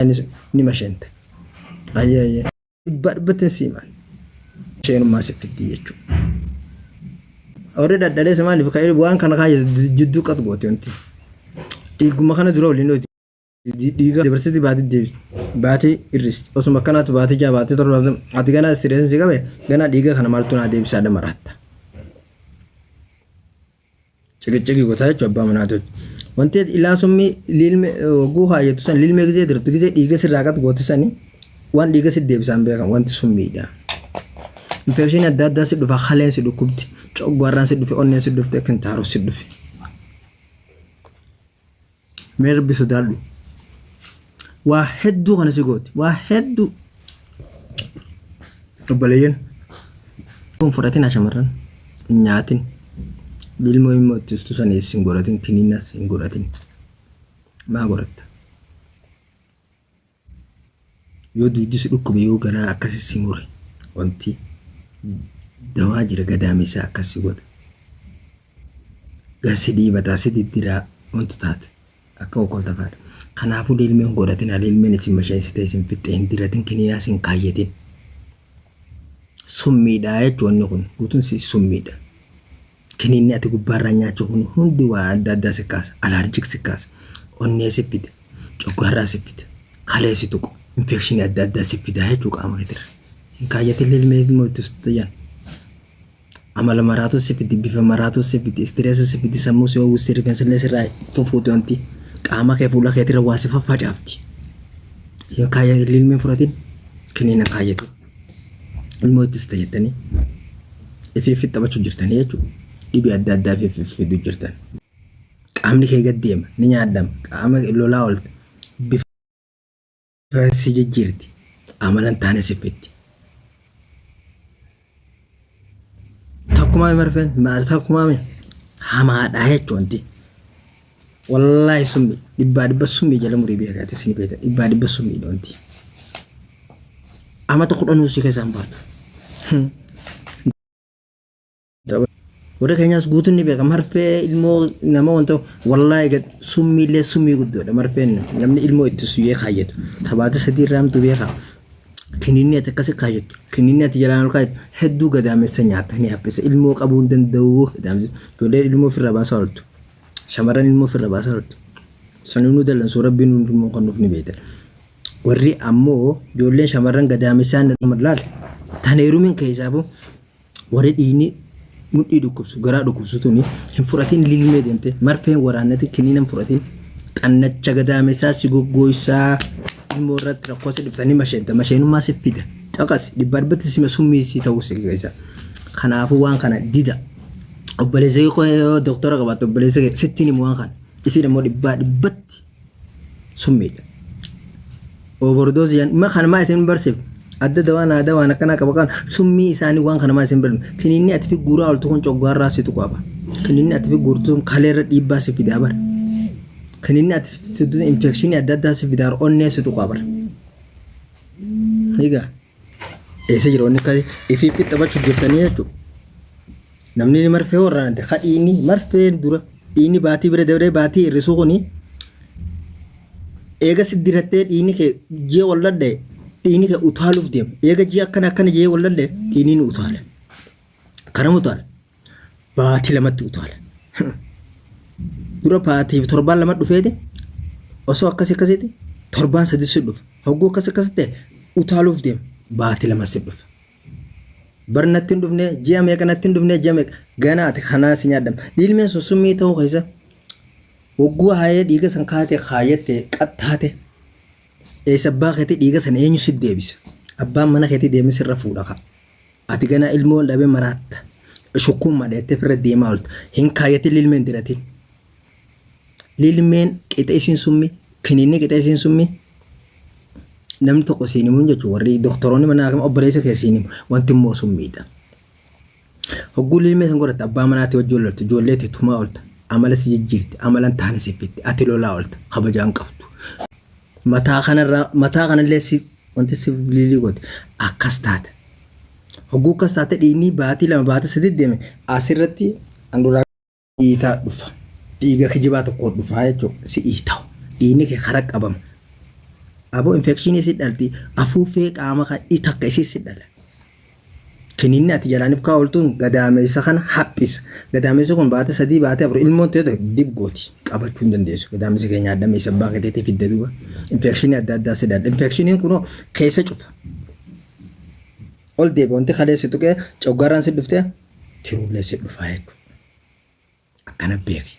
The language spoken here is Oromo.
Anis ni masheente. Ayyee ayyee. Dhibbaa dhibbatti hin siimaan. Isheenummaa si fiddii jechuudha. Warri dhadhaleessa maaliif ka'ee waan kana kaayya jidduu qat goote wanti. Dhiiguma kana dura waliin dhooti. Dhiiga dabarsiti baatee deebisi. Baatee irristi. Osuma akkanaatu baatee ja'a baatee torba baatee ati ganaa istireessi qabe ganaa dhiiga kana maaltu naa deebisaa dhamaratta. ciqiciqii gotaa jechuudha abbaa manaa tolcha. Wanti ilaa summii liilme oguu kaayyatu san liilme gizee dirtu gizee dhiiga sirraa qatu gootu sani waan dhiiga si deebisaan beekan wanti summiidha. Infekshinii adda addaa si dhufa haleen si dhukkubdi coggaarraan si dhufe onneen si dhufte kintaaroo si dhufe. mee rabbi sodaadhu waa hedduu kana si gooti waa hedduu obboleeyyan kun fudhatina shamarran hin nyaatin ilmoo immoo itti ustu sanees hin godhatin kiniinas hin godhatin maa godhatta yoo duuddi si dhukkube yoo garaa akkasi si mure wanti dawaa jira gadaamessa akkas si godha gar si dhiibataa si diddiraa wanti taate akka okolta faadha kanaafuu lilmeen godhatin lilmeen isin masheessite isin fixxe hin diratin kiniyaa isin kaayyatin summiidha jechuun kun guutuun si summiidha Kiniinni ati gubbaarraa nyaachuu kun hundi waa adda addaa si kaasa. Alaarjik si kaasa. Onnee si fida. Coggaarraa si fida. Kalee si tuqu. Infekshinii adda addaa si fida jechuu qaama keetirra. Hin kaayyatin ilmee ilmoo itti sutayyan. Amala maraatu si fidi. Bifa maraatu si fidi. Istireessa si fidi. Sammuu si oowwisti. Rifeensa illee sirraa fufuuti wanti. Qaama kee fuula keetirra waa si faffacaafti. Hin kaayyatin ilmee fudhatin. Kiniina kaayyatin. ilmoo itti sita jettanii ifiif taphachuu jirtanii jechuudha. Dhibee adda addaa ifiif fiduu jirtan. Qaamni kee gad deema ni nyaadhama qaama lolaa oolta bifa si jijjiirti amalan taane si fitti. Takkumaa marfeen takkumaa hamaadhaa jechuun Wallahi summi dhibbaa dhibba summi jala murii biyya gaate sini beeta dhibbaa dhibba summi dhoonti. Amata kudhan usii keessa hin baatu. Warri keenyaas guutuun ni beeka marfee ilmoo nama wanta wallahi gad summii illee summii guddoodha marfeen namni ilmoo itti suyyee kaayyatu tabaata sadii irraa hamtu beeka. Kininni ati akkasi kaayyatu kininni ati jalaan ol kaayyatu hedduu gadaamessa nyaata ni haphisa ilmoo qabuu hin danda'u gadaamessa ijoollee ilmoo ofirraa baasaa ooltu. Shamarran ilmoo ofirra baasaa turte. Sanii nu dallansuu rabbiin hundi immoo kan nuuf ni beekta. Warri ammoo ijoolleen shamarran gadaamessaan laal tan heerumin keessaafuu warri dhiigni mudhii dhukkubsu garaa dhukkubsu tuni hin fudhatin lilmee deemte marfeen waraannati kiniina hin fudhatin xannacha gadaamessaa si goggooysaa ilmoo irratti rakkoo si dhuftanii masheenta masheenummaa si fida caqas dhibbaa dhibbatti sima summii si ta'uu si keessa kanaafuu waan kana dida obboleessi koo yoo doktora qabaatte obboleessa kee sittiin himu waan kana. Isiin immoo dhibbaa dhibbatti summiidha. Overdose jedhan ma kana maa isin barsiif adda dawaan aadaa waan akkanaa qaba kan summii isaanii waan kana maa isin barsiif kiniinni ati fi guuraa oltu kun coggaarraa situ qaba. Kiniinni ati fi guurtu sun kaleerra dhiibbaa si fidaa bara. Kiniinni ati fidu infekshinii adda addaa si fidaa onnee situ qaba bara. Egaa. Eessa jira wanni akkasii? Ifiif fixxabachuuf jirtanii jechuudha. Namni marfee warraanate ka dhiinni marfeen dura dhiinni baatii bira dabree baatii hir'isuu kuni eega si dirattee dhiinni kee ji'a wal dhadha'e dhiinni kee utaaluuf deema. Eega ji'a akkana akkana jee wal dhadha'e dhiinni ni utaala. Karam utaala? Baatii lamatti utaala. Dura baatiif torbaan lama dhufeete osoo akkas akkasitti torbaan sadii si dhufa. Hogguu akkas akkas ta'e utaaluuf deema. Baatii lama si dhufa. Bar natti hin dhufne ji'a meeqa natti hin dhufne ji'a meeqa gana ati kanaa si nyaadhama. Dhiilmeen sun summii ta'uu keessa hogguu haayee dhiiga san kaatee kaayatte qaxxaate eessa abbaa keetii dhiiga san eenyu si deebisa. Abbaan mana keetii deemee sirra fuudha kaa. Ati ganaa ilmoo dhabe maraatta. Shukkuun madheettee firra deemaa oolta. Hin kaayyatin lilmeen diratin. Lilmeen qixa isiin summi. Kiniinni qixa isiin summi. Namni tokko siin himuun jechuun warri doktoroonni mana haakima obboleessa kee siin himu. Wanti immoo summiidha. Hogguu lilmee san godhatte abbaa manaatii wajjin loltu. Ijoollee tee tumaa oolta. Amala si jijjiirti. Amala hin taane si fiddi. Ati lolaa oolta. Kabajaa hin qabdu. Mataa kanarraa mataa kanallee si wanti si biliilii goote akkas taate. Hogguu akkas taate dhiigni baatii lama baatii sadii deeme asirratti handhuraa dhiitaa dhufa. Dhiiga kijibaa tokko dhufaa jechuudha si dhiita'u. Dhiigni kee karaa qabama. Aboo infekshinii si dhalti afuuffee qaama kan takka isii si dhala. Kiniinni ati jalaanif kaa oltuun gadaameessa kana haphisa. Gadaameessi kun baate sadii baate afur ilmoon ta'e ta'e dib gooti. Qabachuu hin dandeessu. Gadaameessa kee nyaadha meessa abbaa keeteetii fidda duuba. Infeekshinii adda addaa si daadha. Infeekshiniin kunoo keessa cufa. Ol deebi wanti kalee si tuqee coggaaraan si dhuftee tiruullee si dhufaa jechuudha. Akkana beeki.